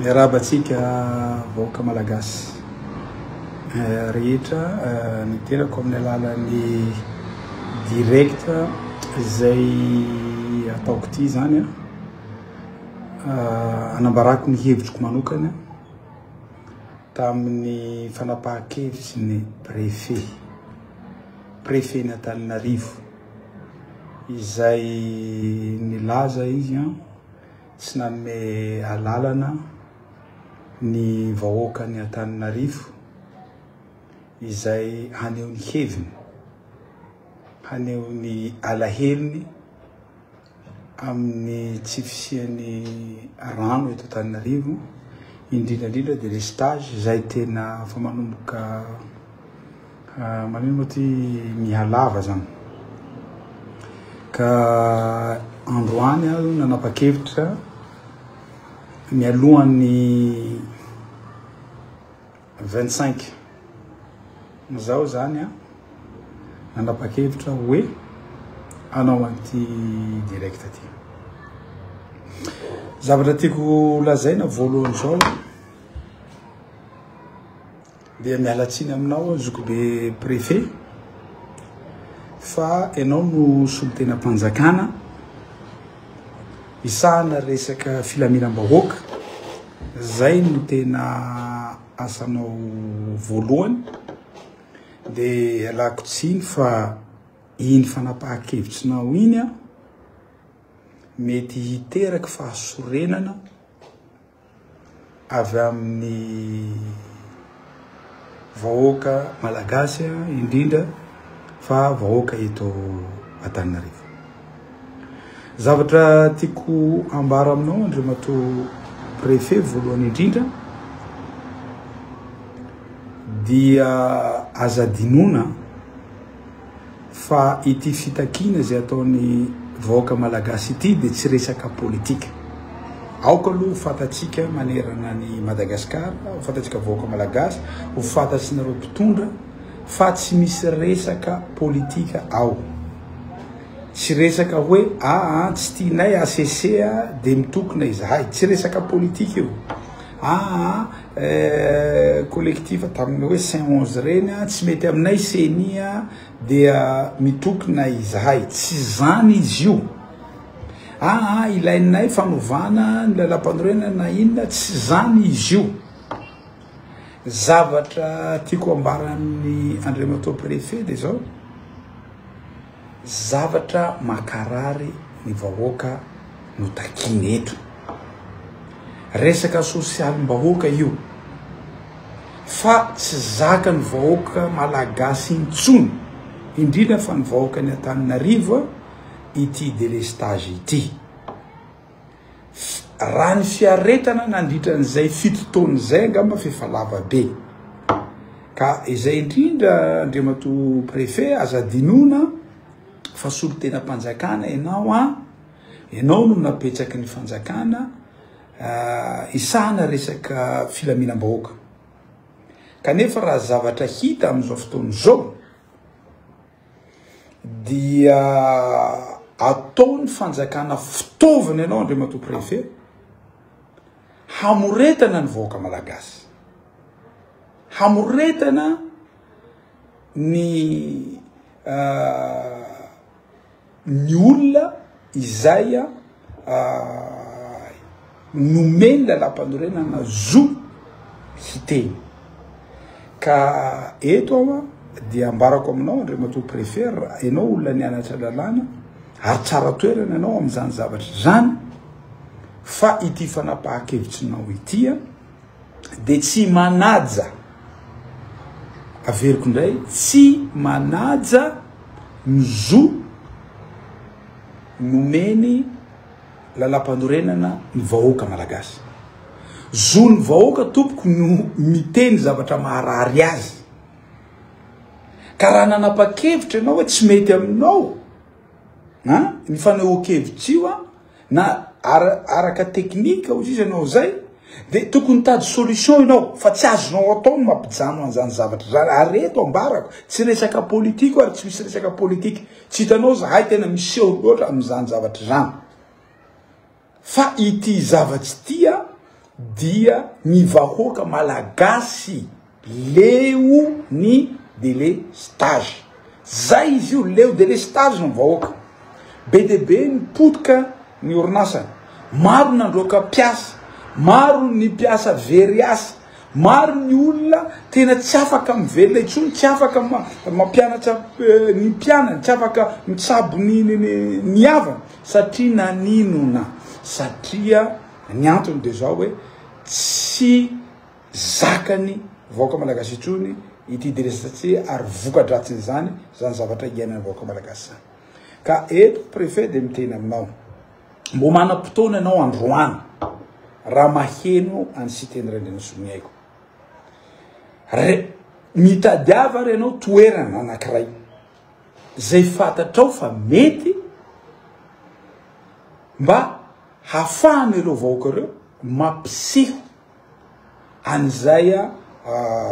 Miarahaba antsika vahoaka malagasy rehetra, niterako amin'ny alalan'ny direct izay ataoko ity izany an, anambarako ny hevitriko manokana tamin'ny fanapahan-kevitry ny prefet, prefet-n'i Antananarivo izay nilaza izy an. tsy nanome alalana ny vahoakan'i Antananarivo izay haneho ny heviny, haneho ny alahelony amin'ny tsy fisian'ny rano eto Antananarivo, indrindra indrindra dia le stage izay tena efa manomboka Manino moa ty mihalava zany. Ka androany aho nanapa-kevitra mialohan'ny 25 zao zany an, nanapa-kevitra hoe hanao an'ity direct ty. Zavatra tiako lazaina voalohany zao, Dia miala tsiny aminao aho zokibe préfet fa ianao no solontenam-panjakana hisahana resaka filaminam-bahoaka, izay no tena asanao voalohany. Dia ialako tsiny fa iny fanapahan-kevitrinao iny mety hiteraka fahasorenana. avy amin'ny vahoaka malagasy indrindra fa vahoaka eto Antananarivo. Zavatra tiako ambara aminao Andriamatoa Préfet voalohany indrindra dia aza dinona fa ity fitakiana izay ataon'ny vahoaka malagasy ity dia tsy resaka politika. Aoka aloha ho fantatsika manerana ny Madagasikara, ho fantatsika vahoaka malagasy, ho fantatsinareo mpitondra fa tsy misy resaka politika ao. Tsy resaka hoe aa ah, ah, tsy tianay asesea dia mitokona izahay. Tsy resaka politika io. Aa ah, collectif tamin'ny hoe saint onze reny a tsy mety aminay ceni a dia mitokona izahay tsy zany izy io aa ilainay fanovana ny lalam-panorenana na inona tsy zany izy io zavatra tiako ambaran'ny andriamatoa préfet de zao Zavatra makarary ny vahoaka no takiana eto. Resaka sosialim-bahoaka io fa tsy zakan'ny vahoaka malagasy intsony, indrindra fa ny vahoakan'i Antananarivo ity delestage ity. Raha ny fiaretana nandritra an'izay fito taona izay angamba fa efa lava be. Ka izay indrindra Andriamatoa Préfet aza adinoina fa solontenam-panjakana ianao an, ianao no napetraky ny fanjakana hisahana resaka filaminam-bahoaka. Kanefa raha zavatra hita amin'izao fotoana izao, dia ataony fanjakana fitaovana ianao Andriamatoa Préfet hamoretana ny vahoaka malagasy. Hamoretana ny uh, ny olona izay nomen'ny Lalàmpanorenana zo hiteny. Ka eto aho dia ambarako aminao Andriamatoa Préfet, ianao olona nianatra lalàna ary tsara toerana ianao amin'izany zavatra izany fa ity fanapahan-kevitrinao ity, dia tsy manaja, averiko indray, tsy manaja ny zo nomeny lalampanorenana ny vahoaka malagasy. Zon'ny vahoaka tompoko no miteny zavatra maharary azy. Ka raha nanapa-kevitra ianao hoe tsy mety aminao, ha, ny fanehoan-kevitra io, na araka teknika ozy izy anao zay de tokony mitady solution ianao fa tsy azonao atao ny mampijano an'izany zavatra zany ary reto ambarako tsy resaka politiko ary tsy misy resaka politike tsy hitanao zahay tena miseho loatra amin'izany zavatra izany fa ity zavatsy tia dia ny vahoaka malagasy Leo ny delestage. Zay izy io, leo delestage ny vahoaka. Be dia be ny potika ny orinasa. Maro ny androaka mpiasa, maro ny mpiasa very asa, maro ny olona tena tsy afaka mivelona intsony, tsy afaka mampianatra ny mpianany, tsy afaka mitsabo ny havany satria naninona? Satria ny antony dia zao hoe tsy zakany vahoaka malagasy intsony ity DRSC ary vokadratsin'izany zany zavatra hiainan'ny vahoaka malagasy zany ka eto préfet de miteny aminao mbo manam-potoana ianao androany raha maheno any Siteny Randrianasoa Mihaiko re mitadiava ary ianao toerana anankiray zay fantatrao fa mety mba hafahan'ireo vahoaka ireo mampiseho an'izay,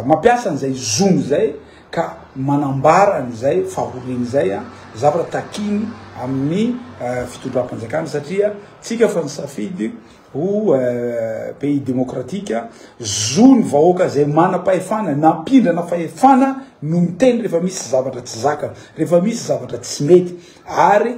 mampiasa an'izay zony izay ka manambara an'izay fahoriany izay, zavatra takiny amin'ny fitondram-panjakana satria tsika efa nisafidy ho pays demokratika, zo ny vahoaka izay manam-pahefana nampindrana fahefana no miteny rehefa misy zavatra tsy zakany, rehefa misy zavatra tsy mety, ary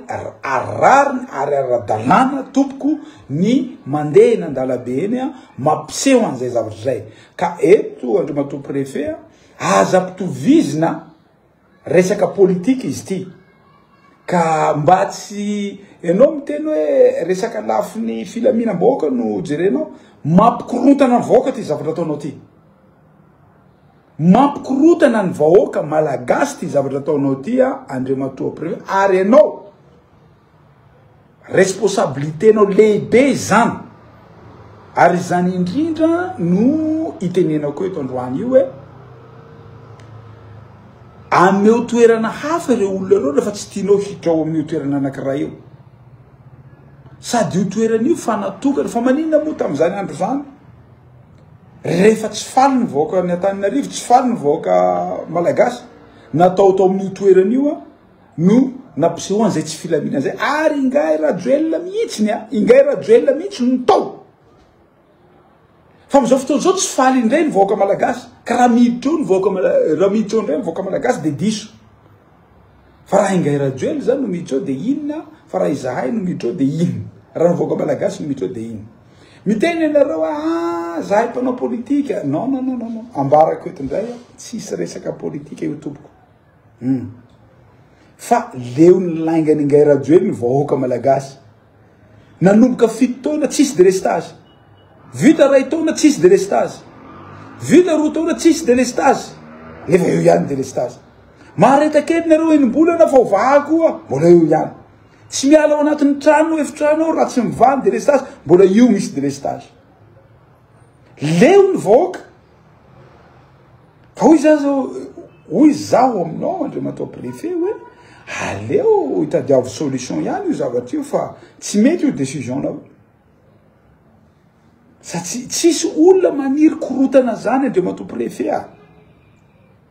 rariny ary ara-dalàna tompoko ny mandeha eny an-dalabe eny a, mampiseho an'izay zavatra izay, ka eto Andriamatoa Préfet a, aza ampitovizina resaka politika izy ity, ka mba tsy, ianao miteny hoe resaka lafiny filaminam-bahoaka no jerenao, mampikorontana ny vahoaka ity zavatra ataonao ity. Mampikorotana ny vahoaka malagasy ty zavatra ataonao ty a Andriamatoa Préfet ary enao responsabilité nao lehibe izany ary izany indrindra no itenenako eto androany io hoe ameo toerana hafa ireo olona ireo rehefa tsy tianao hiditra ao amin'io toerana anankiray io sady io toerana io fa natokana fa maninona moa tamin'izany andro izany Rehefa tsy faly ny vahoaka ny Antananarivo, tsy faly ny vahoaka malagasy, natao tao amin'io toerana io a, no nampisehoany izay tsy filaminana izay, ary ingahy Rajoelina mihitsy ny a, ingahy Rajoelina mihitsy no tao. Fa amin'izao fotoana izao tsy faly indray ny vahoaka malagasy, ka raha miditra eo ny vahoaka, raha miditra eo indray ny vahoaka malagasy dia diso. Fa raha ingahy Rajoel zany no mitreo de inona fa raha izahay no mitreo de inona raha ny vahoaka malagasy no mitreo de inona miteny anareo a ah, zahay mpanao politika non non non non ambarako eto indray a tsisy resaka politika io tompoko hmm. fa leon'ny laingany ingahy Rajoel ny vahoaka malagasy Nanomboka fito taona tsisy delestage. Vita ray taona tsisy delestage. Vita roa taona tsisy delestage. Nefa eo ihany delestage. Mahareta kely nareo enim-bolana fa ho vaha koa mbola eo ihany. Tsy miala ao anatin'ny trano efitrano ao raha tsy mivaha ny delestage, mbola io misy delestage. Leo ny vahoaka Fa hoy zany zao, hoy zaho aminao Andriamatoa Préfet hoe aleo itadiavo solution ihany io zavatra io fa tsy mety io décision-nao io. Satsia tsisy olona maniry korotana zany Andriamatoa Préfet ah.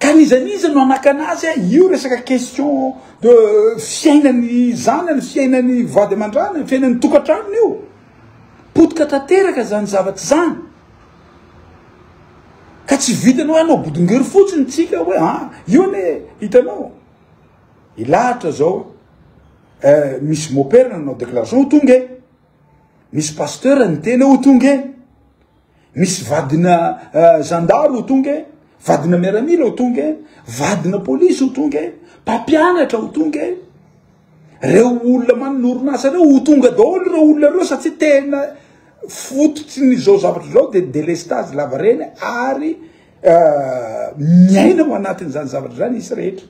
Ka n'iza n'iza no hanakana azy a, io resaka question de fiainan'ny zanany, fiainan'ny vady aman-dranany, fiainan'ny tokantranony io. Potika tanteraka zany zavatra zany. Ka tsy vitany hoe hanao bodongery fotsiny tsika hoe a, ah, io anie hitanao. Ilahatra zao eh, misy mopera nanao déclaration ho tonga e. Misy pasteur niteny ho tonga e. misy vadina eh, zandary ho tonga e vadina miaramila ho tonga e vadina polisy ho tonga e mpampianatra ho tonga e reo olona manorinasa reo ho tonga daholo reo olona reo satsia tena fototry ny zao zavatra zao de delestage lavareny ary eh, miaina ho anatin'izany zavatra zany isy rehetra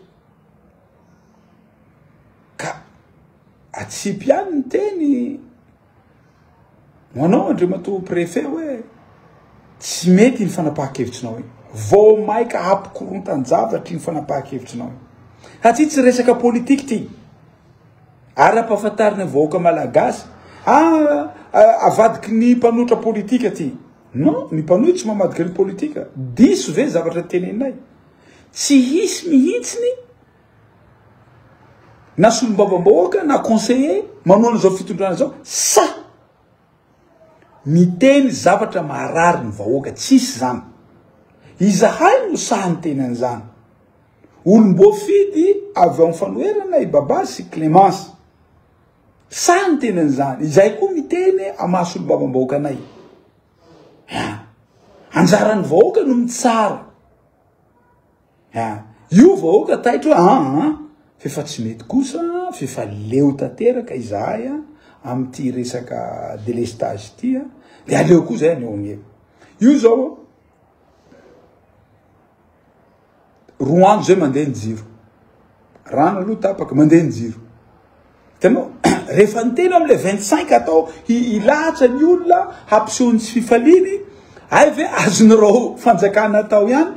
ka atsipy any ny teny Ho anao Andriamatoa Préfet hoe tsy mety iny fanapahan-kevitrinao iny. Vao maika hampikontan-javatra iny fanapahan-kevitrinao iny. Satria tsy resaka politika ity. Ary ampahafantarina ny vahoaka malagasy, ah, ah avadiky ny mpanotra politika ity. Non, ny mpanohy tsy mamadika ny politika. Diso ve zavatra teneninay? Tsy hisy mihitsy ny na solombavambahoaka na conseiller manohana izao fitondrana izao sa miteny zavatra maharary ny vahoaka tsisy zany izahay no saha ny teny an'izany olom-boafidy avy ao fanoherana i baba sy clémence saha ny teny an'izany izay koa miteny amaha solombavambahoaka anay anjaran'ny vahoaka no mitsara Ha, io vahoaka taitra hoe aa, f'efa tsy mety kosa, f'efa leo tanteraka izahay a, amin'ity resaka délestage ity a, de aleo koa zay aneo angevo. Io zao, roa andro zay mandeha ny jiro. Rano aloha tapaka, mandeha ny jiro. Hitanao, rehefa ny tena amin'ilay 25 atao hilahatra ny olona hampiseho ny tsy fifaliany, hay ve azon'ireo fanjakana atao ihany,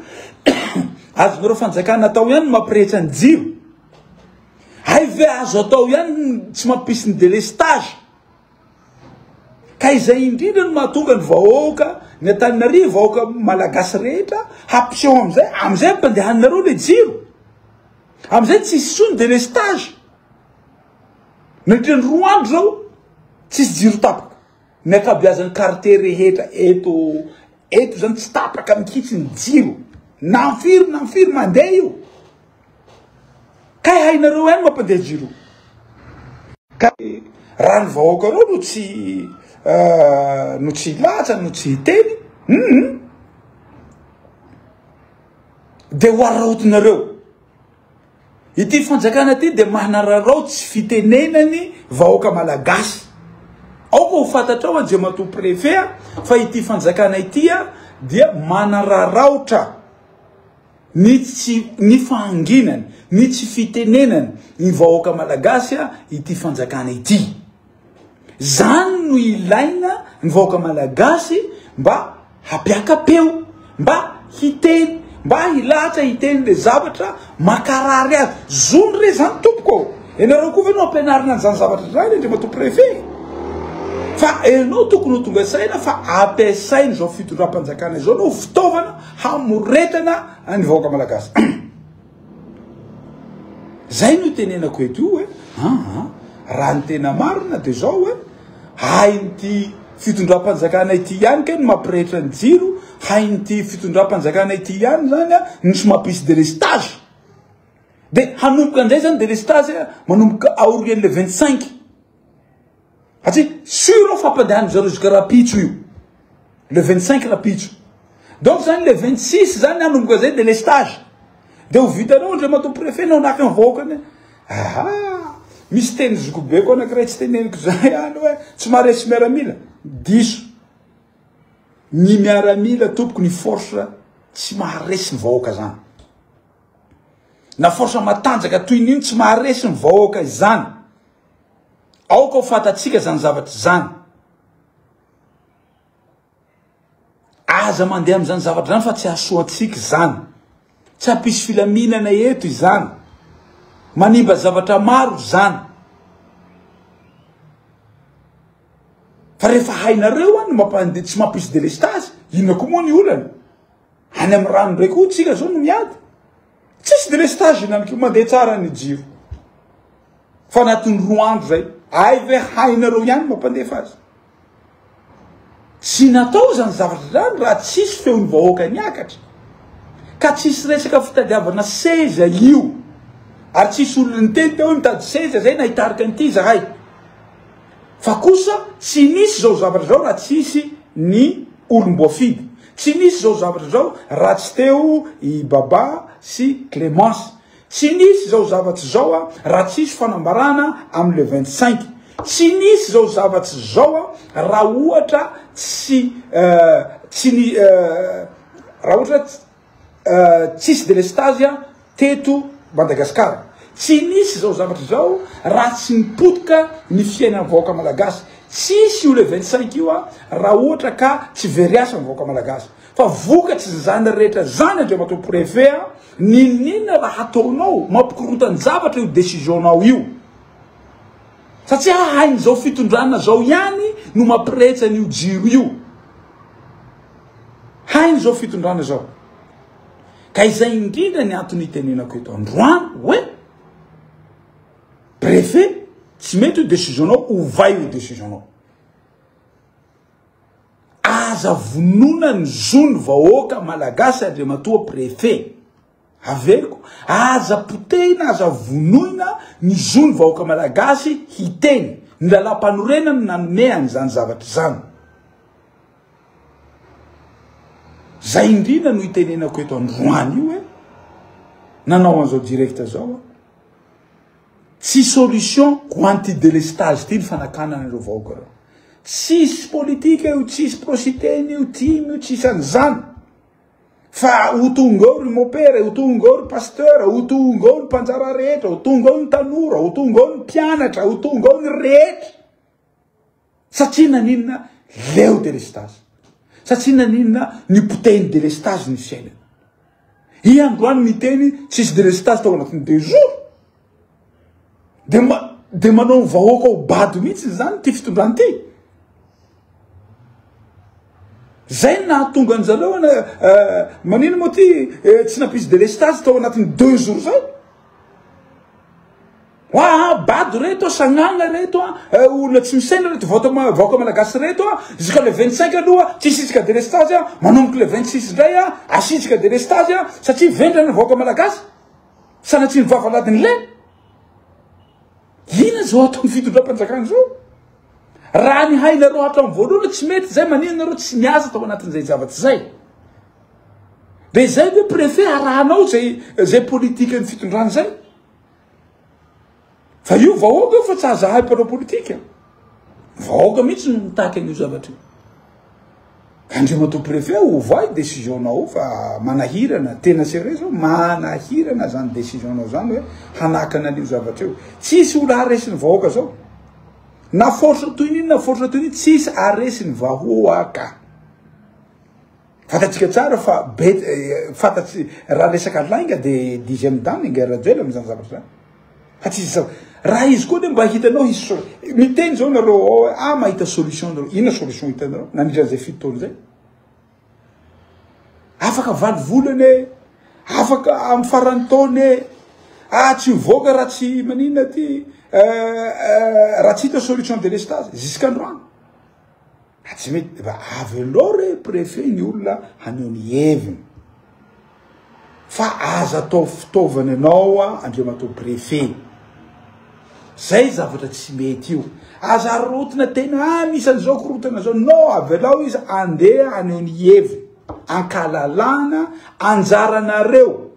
azon'ireo fanjakana atao ihany mampirehetra ny jiro. Hay ve azo atao ihany tsy mampisy ny délestage. Ka izay indrindra no mahatonga ny vahoaka ny Antananarivo, vahoaka malagasy rehetra hampiseho amin'izay, amin'izay ampandehaninareo ilay jiro. Amin'izay tsy hisy intsony délestage. Nandritra ny roa andro izao, tsisy jiro tapaka. Ny ankabeazan'ny quartier rehetra eto eto izany tsy tapaka mihitsy ny jiro. Na firy na firy mandeha io. Kay hainareo any mampande jiro. Kay raha ny vahoakareo no tsy euh, no tsy hilatsa no tsy hiteny hum de ho araotinareo. Ity fanjakana ity de manararao tsy fitenenany vahoaka malagasy. Aoka ho fantatrao Andriamatoa Préfet fa ity fanjakana ity dia manararaotra. ny tsy ny fahanginany, ny tsy fitenenany ny vahoaka malagasy ity fanjakana ity. Zany no ilaina ny vahoaka malagasy mba hapiaka-peo, mba hiteny, mba hilahatra hiteny le zavatra makarary azy. Zony re zany tompoko. Ianareo koa ve no ampianarina an'izany zavatra zany Andriamatoa Préfet? Fa ianao tokony ho tonga saina fa ampiasaina izao fitondram-panjakana izao no fitaovana hamoretana ny vahoaka malagasy zay no tenenako eto io hoe aa raha ny tena marina de zao hoe hain'ity fitondram-panjakana ity ihany ke ny mampirehitra ny jiro hain'ity fitondram-panjakana ity ihany zany a nisy mampisy delestage de hanomboka an'izay zany delestage manomboka aorian'le vingt cinq Satria sûr aho fa ampandehanin-dry zareo jusqu'à rapitso io. Le 25 rapitso. Donc zany le 26 zany nanomboka zay délestage. Dia ho vitanao Andriamatoa Préfet nao naka ny vahoaka ny. Aha! Misy teny zokibeko anankiray tsy teneniko zay any hoe tsy maharesy miaramila. Diso. Ny miaramila tompoko ny force tsy maharesy ny vahoaka zany. Na force matanjaka toy ny iny tsy maharesy ny vahoaka izany. Aoka ho fantatsika izany zavatra izany. Aza mandeha amin'izany zavatra izany fa tsy hahasoa antsika izany. Tsy hampisy filaminana eto izany. Manimba zavatra maro izany. Fa rehefa hainareo any mampande tsy mampisy delestazy, inona koa moa ny olana? Any amin'ny rano indray koa tsika izao no miady. Tsisy délestage ihany koa, mandeha tsara ny jiro. Fa anatin'ny roa andro zay, hay ve hainareo ihany mampandefa azy? Tsy natao izany zavatra izany raha tsisy feon'ny vahoaka niakatra. Ka tsisy resaka fitadiavana seza io. Ary tsisy olona niteny teo hoe mitady seza zay na hitarika an'ity zahay. Fa kosa tsy nisy izao zavatra izao raha tsy hisy ny olom-boafidy. Tsy nisy izao zavatra izao raha tsy teo i Baba sy Clémence. Tsy nisy izao zavatra izao raha tsy hisy fanambarana amin'ny le vingt cinq. Tsy nisy izao zavatra izao raha ohatra tsy tsy raha ohatra tsy. tsisy delestazy teto Madagascar tsy nisy zao zavatra zao raha tsy nipotika ny fiainan'ny vahoaka malagasy tsisy io le 25 io raha ohatra ka tsy very asa ny vahoaka malagasy fa vokatry zany rehetra zany andriamatoa préfet n'inon'inona raha hataonao mampikorontan-javatra io décision nao io satria hahain'izao fitondrana zao ihany no mampirehitra an'io jiro io Hainy izao fitondrana izao. Ka izay indrindra ny antony itenenako eto androany hoe préfet tsy mety io décision-nao ovay io décision-nao. Aza vonona ny zon'ny vahoaka malagasy Andriamatoa préfet. Averiko, aza potehina, aza vonoina ny zon'ny vahoaka malagasy hiteny. Ny lalàmpanorenana no nanome an'izany zavatra izany. Zay indrindra no itenenako eto androany io e. Nanao an'izao direct zao aho. Tsy solution ho an'ity délestage ity ny fanakanana ireo vahoaka ireo. Tsisy politika io, tsisy prositeny io, tim io, tsisy an'izany. Fa ho tonga ao ry mopera, ho tonga ao ry pasteur, ho tonga ao ny mpanjara rehetra, ho tonga ao ny tanora, ho tonga ao ny mpianatra, ho tonga ao ny rehetra. Satria naninona leo delestazy. Satria naninona ny poteny delestazy ny fiainana. I androany miteny tsisy delestazy tao anatin'ny deux jours. Dia ma, dia manao ny vahoaka ho bado mihitsy izany ity fitondrana ity. Zay nahatonga an'i zareo ana, eh, manino moa ty eh, tsy nampisy délestage tao anatin'ny deux jours zay. Hoa bado reto a, sagnagna reto a, eh, olona tsy misaina reto vahoaka ma- vahoaka malagasy reto a, jusqu'à le 25 aloha tsy hisitrika délestage a, manomboka le 26 indray a, asitrika délestage a, satria vendrana ny vahoaka malagasy. Sanatria ny vavaladin'i Lena. Inona izao ataon'ny fitondram-panjakana izao? Raha ny hainareo hatramin'ny voalohany tsy mety izay maninona ianareo tsy miasa tao anatin'izay zavatra izay. Dia izay koa préfet arahanao izay izay politikan'ny fitondrana izay. Fa io vahoaka io fa tsy azahay mpanao politika. Vahoaka mihitsy no mitaky an'io zavatra io. Andriamatoa préfet ovay décision-nao fa manahirana tena sérieux zao manahirana zany décision-nao zany hoe hanakana an'io zavatra io. Tsisy olo aresin'ny vahoaka zao. Na force toy n'inona force toy n'inona tsisy aresin'ny vahoaka. Fantatsika tsara fa be fantatsy raha resaka lainga dia dixième dame ingahy Rajoelina izany zavatra izany. Fa tsy izy raha izy koa dia mba hitanao hisy miteny izao nareo ao ah mahita solution nareo inona solution hitanareo nandritra izay fito taona izay. Afaka valo volana e, afaka amin'ny faran'ny taona e, ah tsy mivoaka raha tsy maninona aty euh, euh, raha tsy hita solution délestage jusqu'à androany. Ka tsy mety efa avelao re préfet ny olona haneho ny heviny fa aza atao fitaovana ianao andriamatoa préfet zay zavatra tsy mety io aza arotina tena anisan' izao korotana zao no avelao izy andeha haneho ny heviny ankalalana anjaranareo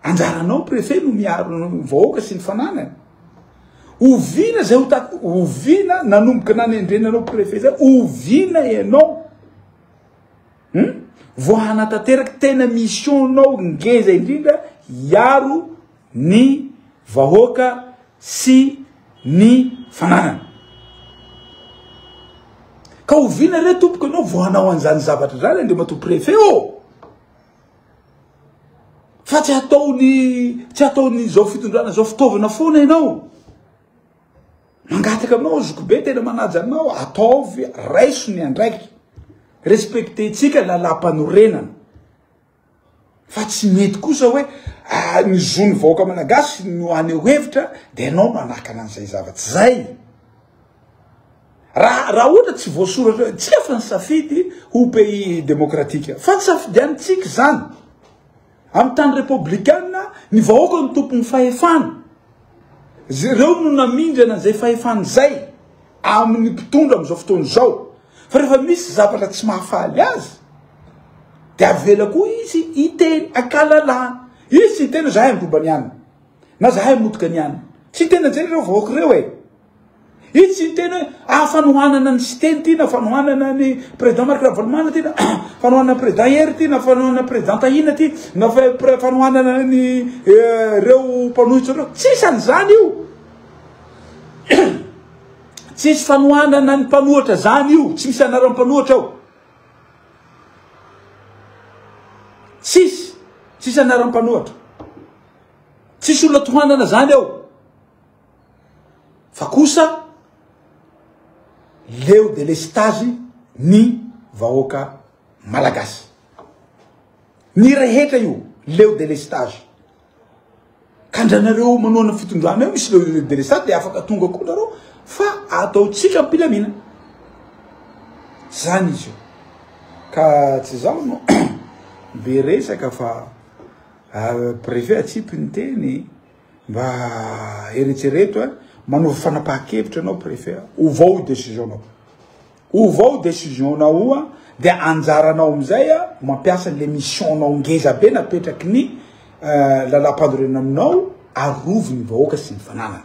Anjaranao préfet no miaro ny vahoaka sy ny fananany. Ovina zay ho tak ovina nanomboka nanendrenanao préfet zay ovina ianao. Hmm? Vao hanatanteraka tena mission nao ngeza indrindra hiaro ny vahoaka sy ny fananany. Ka ovina re tompoko ianao vao hanao an'izany zavatra zany Andriamatoa préfet ô! Oh! Fa tsy ataony tsy ataony zao fitondrana zao fitaovana foana ianao. Mangataka aminao zokibe tena manaja anao ataovy raiso ny andraikitra. Respecté tsika lalam-panorenana. Fa tsy mety kosa hoe ah, ny zon'ny vahoaka malagasy no aneho hevitra dia ianao manakana an'izay zava-tsy zay. Raha raha ohatra tsy voasoratra, tsy efa nisafidy ho pays demokratika. Fa tsy safidianintsika izany. Amin'ny tany repoblikanina, ny vahoaka no tompon'ny fahefana. Ireo no namindra an'izay fahefana izay amin'ny mpitondra amin'izao fotoana izao. Fa rehefa misy zavatra tsy mahafaly azy, dia avela koa izy hiteny an-kalalahana. Izy tsy hiteny hoe zahay androba niany, na zahay motika niany. Tsy hiteny an'izay ireo vahoaka ireo e. Iny tsy niteny hoe ah fa nohanana an'i Siteny ity na fa nohanana an'i président Marc Ravalomanana ity na fa nohanana an'i président Hery ity na fa nohanana an'i président Tahina ity na fa fa nohanana an'i reo mpanohitra reo. Tsisy an'izany io. Tsisy fanohanana an'i mpanohitra zany io, tsy misy anaran'ny mpanohitra ao. Tsisy, tsisy anaran'ny mpanohitra. Tsisy olona tohanana zany ao. Fa kosa leo delestazy ny vahoaka malagasy. Ny rehetra io leo delestazy. Ka ndranareo manoana fitondrana eo misy leo delestazy dia afaka tonga koa nareo fa ataontsika ampilamina. Zany izy io. Ka tsy zaho no be resaka fa ah, préfet atsipy ny teny. Mba eretsereto a, manova fanapahan-kevitra ianao préfet, ovao io décision-nao. Ovao décision-nao io a, dia anjaranao amin'izay a, mampiasa an'ilay mission-nao ngeza be napetraky ny euh, lalam-panorenana aminao, arovy ny vahoaka sy ny fananana.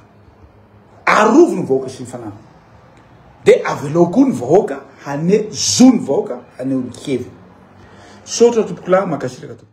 Arovy ny vahoaka sy ny fananana. Dia avelao koa ny vahoaka hane zo ny vahoaka haneho ny heviny. Misaotra tompoko lahy, mankasitraka tompoko.